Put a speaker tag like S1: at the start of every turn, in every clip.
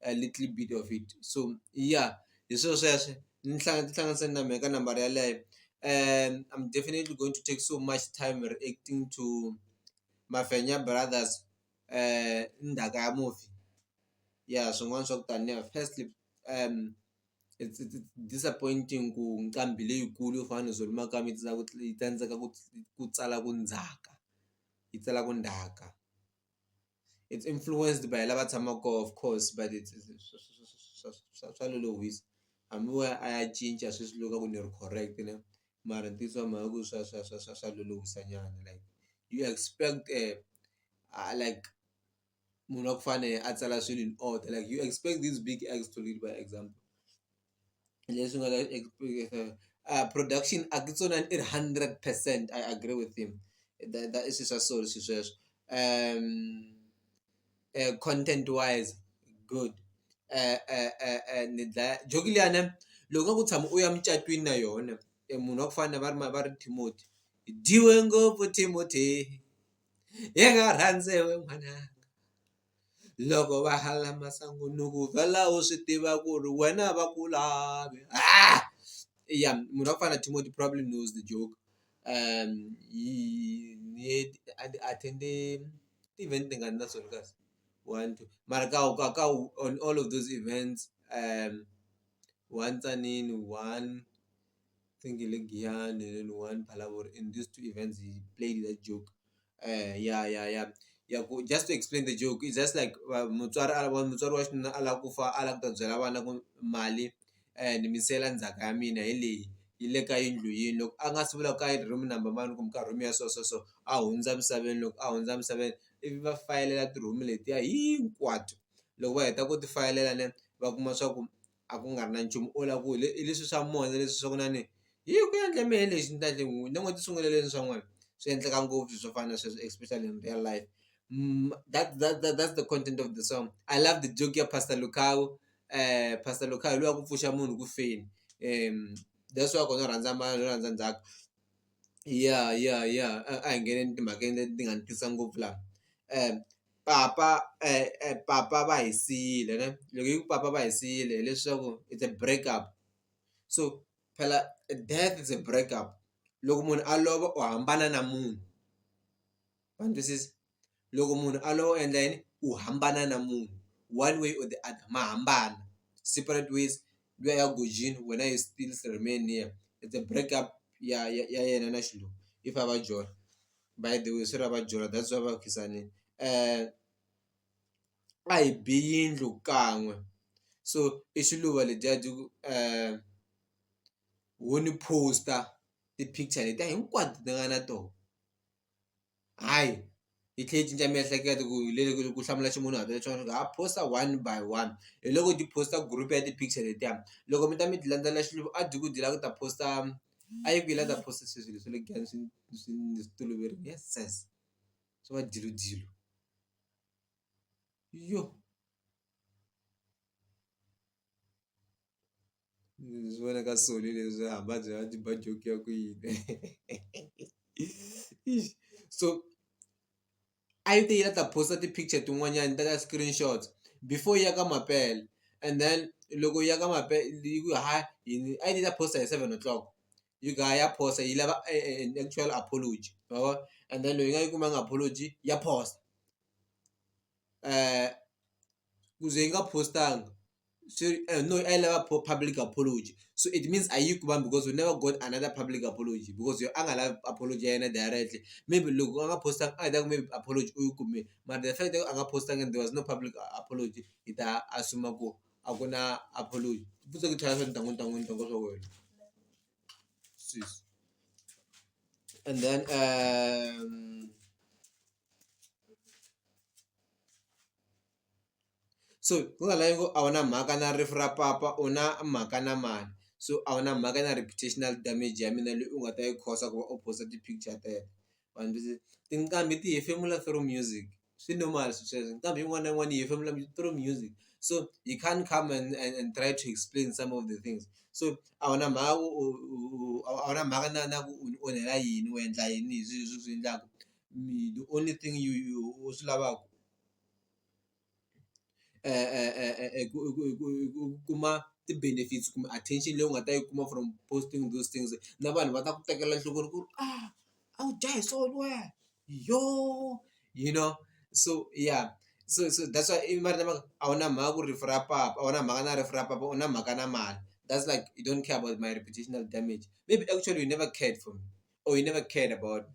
S1: a little bit of it so ya hi swilo sweswo ni ni hlanganisa na mhaka nambara yeleyo I'm definitely going to take so much time reacting to Mafenya brothers ndzhaka ya mufi ya swin'wana swa ku taniya firstly it's disappointing ku nqambi leyikulu yo fana na Zulu makamba yi ku yi tsandzeka ku ku tsala ku ndzhaka yi tsala ku ndzhaka. it's influenced by lava tshamaka kona of course but it's swa swa lolohisa hambi wo ya a ya cinca sweswi loko a ku ni ri correct ne mara ntiyiso wa mhaka ku swa swa swa swa swa lolohisa nyana like you expect a like munhu wa ku fana na yena a tsala swilo in order like you expect this big explode by example. leswi nga ka a production a ku tsona i ri hundred percent I agree with him that i swi swa so swi sweswo content wise good ni dlaya joki liyani loko nga ku tshama u ya mucatwini na yona e munhu wa ku fana na va ri ma va ri Timothy hi dyiwe ngopfu Timothy hi nga rhandza we n'wananga. loko va hala masangu ni ku vhela u swi tiva ku ri wena a va ku lavi ya munhu wa ku fana na Timothy probably knows the joke ni attend-e ti-event tingani na swona kahle one two mara ka ka ka on all of those events one tsanini one. think hi le Giyani then one Phalaborwa in these two events he played that joke ya ya ya ya ku just to explain the joke it's just like mutswari a lava mutswari wa xinuna a lava ku fa a lava ku ta byela vana ku mali ni mi siyela ndzhaka ya mina hi leyi yi le ka yindlu yini loko a nga si vula ku ka yini room number mani kumbe ka room ya so so so a hundza emisaveni loko a hundza emisaveni ivi va fayelela ti-room letiya hinkwato loko va heta ku ti fayelela va kuma swa ku a ku nga ri na nchumu o la ku hi hi leswi swa moya leswi swa ku na ni hi ku endle mehe lexi ni ta endla yini ni ngo ti sungulele ni swa n'wina swi endleka ngopfu swo fana na sweswo especially in real life that that that that's the content of the song I love the joke ya pastor Lukau pastor Lukau hi luwa ku pfuxa munhu ku feni that's why ku no rhandza ma no rhandza ndzhaku ya ya ya a hi ngheneni timhakeni leti ti nga ni twisa ngopfu laha . papa papa va hi siyile ne loko yi ku papa va hi siyile hileswaku it's a break up so phela death is a break up loko munhu a lova u hambana na munhu wa ni twisisa loko munhu a lova u endla yini u hambana na munhu one way or the other ma hambana separate ways luya ya gojini wena you still remain here it's a break up ya ya ya yena na xilungu if a va jola. by the way swi lava dyuhala that's why va ku khensani a hi bi yindlu kan'we so i xiluva ledyiya byi ku ho ni poster ti-picture letiya hinkwato ti nga na tona hayi hi tlhela hi cinca miehleketo ku hi lele ku hlamula ximunhuhatwa lexin'wana swa ku ha poster one by one hi loko ti poster group ya ti-picture letiya loko mi ta mi ti landzela xilo a byi ku byi lava ku ta poster. a yi ku yi la ta phosisa swilo swa le kaya swi swi ndzi swi toloverile ya sesa swa va dyilu dyilu yo ndzi swi vona ka soli leswi hamba byi va byi ba joke ya ku yini so. a yi te yi la ta post-a ti-picture tin'wanyani yi teka screenshots before yi ya ka mampela and then loko yi ya ka yi ku hayi yini a yi te yi ta post-a hi seven o'clock yi ku hayi ya post-a yi lava an actual apology ma vo and then loko yi nga yi kumanga apology ya post-a ku ze yi nga post-angi. sorry uh, no i lava po- public apology so it means a yi ku vambi because we never got another public apology because yo a nga lavi apology ya yena directly maybe loko a nga postanga a hi ta ku maybe apology u yi kume mara the fact that a nga postanga and there was no public a- apology hi ta assume ku a ku na apology futse ku tlhela swa ntangu ntangu ntangu swa wena sis and then um so hi nga lavi ku a wu na mhaka na rifu ra papa u na mhaka na mani so a wu na mhaka na reputational damage ya mina leyi u nga ta yi cause ku va u post-a ti-picture teto vanhu va tinqambi ti hefemula through music swi normal swilo sweswo nqambi yin'wana na yin'wana yi hefemula through music so you can't come and and and try to explain some of the things so a wu na mhaka u u u u a wu na mhaka na na ku u ni onhela yini u endla yini hi swilo leswi u swi endlaka the only thing you you u swi lavaka. ku kuma ti-benefits kumbe attention leyi u nga ta yi kuma from posting those things na vanhu va ta ku tekela enhlokweni ku ri a a wu dya hi swona wena yo you know so ya so so that's why ivi va ri lava ku a wu na mhaka ku ri rifu ra papa a wu na mhaka na rifu ra papa u na mhaka na mali that's like you don't care about my reputational damage maybe actually you never cared for me or you never cared about me.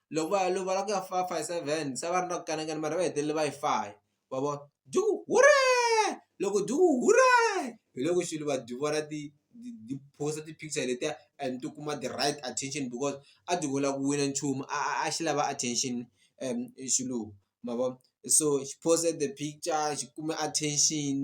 S1: loko va ya lovola ku ya five five seven se va ri na ku kanakana mara va hetelele va yi faya wa vona dyu hureeee loko dyu ku hureeee hi loko xilo va dyi vona ti ti post ti picture letiya and ti kuma the right attention because a dyi ku lava ku wina nchumu a xi lava attention xilo ma vona so xi post the picture xi kume attention .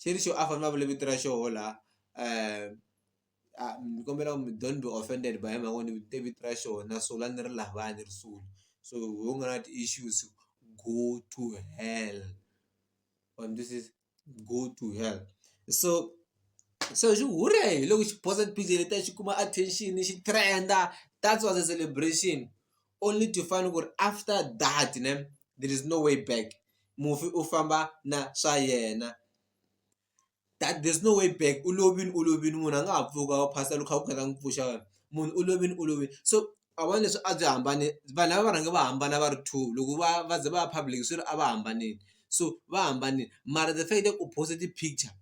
S1: xi ri xo a famba a vule vito ra xoho la ni kombela mi don't be offended by mhaka ku ni te vito ra xona so la ni ri lava ni ri sula so hi we u nga na ti-issues go to hell wa ni twisisa go to hell so so xi hure hi loko xi posa ti-picture letiya xi kuma attention xi trend-a that's was a celebration. only to find ku ri after that ne there is no way back mufi u famba na swa yena that there is no way back u lovile u lovile munhu a nga ha pfuka a phasa loko kha ku khathalangi ku pfuxa wena munhu u lovile u lovile so a vona leswi a byi hambane vanhu lava va rhange va hambana va ri two loko va va ze va ya public swi ri a va hambanile so va hambanile mara the fact that u post-e ti-picture.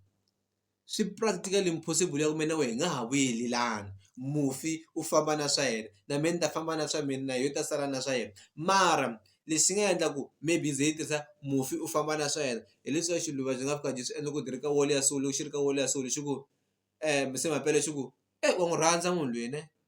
S1: swi practically impossible ya ku me na we hi nga ha vuyelelani mufi u famba na swa yena na me ni ta famba na swa mina na yo ta sala na swa yena mara lexi nga endla ku maybe ze yi tirhisa mufi u famba na swa yena hileswaku xiluva byi nga fika byi swi endla ku ti ri ka wall ya so loko xi ri ka wall ya so lexi ku se mampela xi ku e wa n'wi rhandza munhu lweyi ne.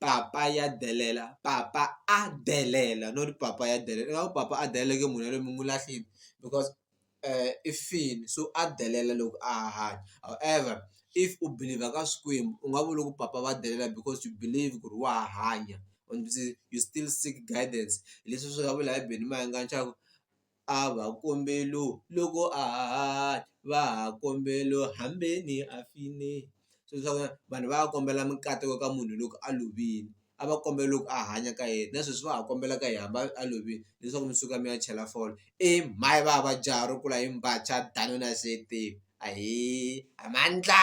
S1: papa ya delela papa a delela not papa ya delela ingaku papa a delela ke munhu yaloye mi n'wi lahlile because i fini so a delela loko a ha hanya however if u believer ka swikwembu u nga vuli ku papa va delela because you believe ku ri wa ha hanya u still seek guidance hileswi swi nga vula hi benimani ka ntshaku. a va kombelo loko a hahani va ha kombelo hambeni a fini se swa ku vanhu va ya kombela mikateko ka munhu loko a lovile a va kombela loko a hanya ka yena na sweswi va ha kombela ka yena hambi a lovile leswaku mi suka mi ya chela fole i mhani va ba jaha ro kula hi mbacha danuna siyeteni ahee a mandla.